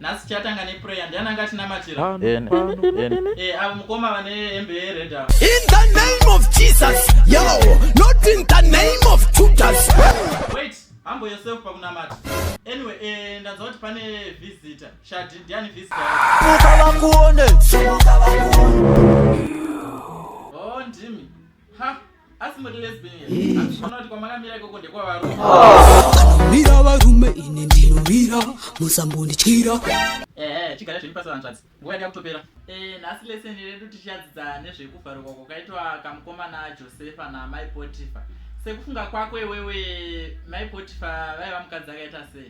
nhasi chatanga neprayer ndiani anga tinamatira eh, avo mukoma vane hembe yered in the name of jesus yo not in the name of judas wait hambo yourself pakunamata anyway eh, ndanzwa kuti pane visitor shadi ndiani visitor ukavakuone oh ndimi ha asi muri lesbian asi kuona kuti kwamakamira ikoko ndekwavarume mira varume ini ndinomira musambondityira ehe chigara zvenyu pasi vanzvadzi nguva yanga kutopera Eh, nhasi leseni redu tichadzidza nezvekuvharukwa kwakaitwa kamukomana josefa namai potifa sekufunga kwako iwewe mai potifa vaiva mukadzi akaita sei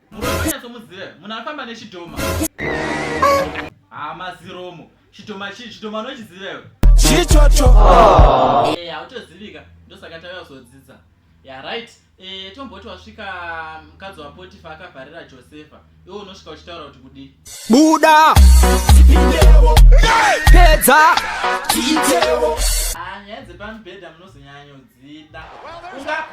Munyatsomuziva munhu afamba nechidhoma. Hama ziromo. Chidhoma chii? Chidhoma unochiziva iwe? Chichocho. Eh, hautozivika. Ndosaka tauya kuzodzidza. Yeah, right. Eh, tomboti wasvika mukadzi waPotifa akavharira Josefa. Iwe unosvika uchitaura kuti kudii? Buda. Tipindewo. Pedza. Tiitewo. Ah, nyaya dzepamubhedha munozonyanyodzida. Unga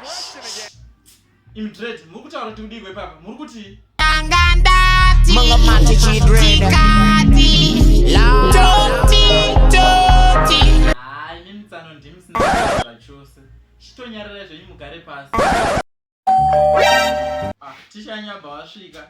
Imi dread, muri kutaura kuti kudii kwepapa? Muri kuti Tanga ndati. Manga mati chidread. Tikati. Toti, toti. Haa, imi mitsano ndimi sina zvachose. Chitonyarara zvenyu mugare pasi. Ah, tichanyabva wasvika.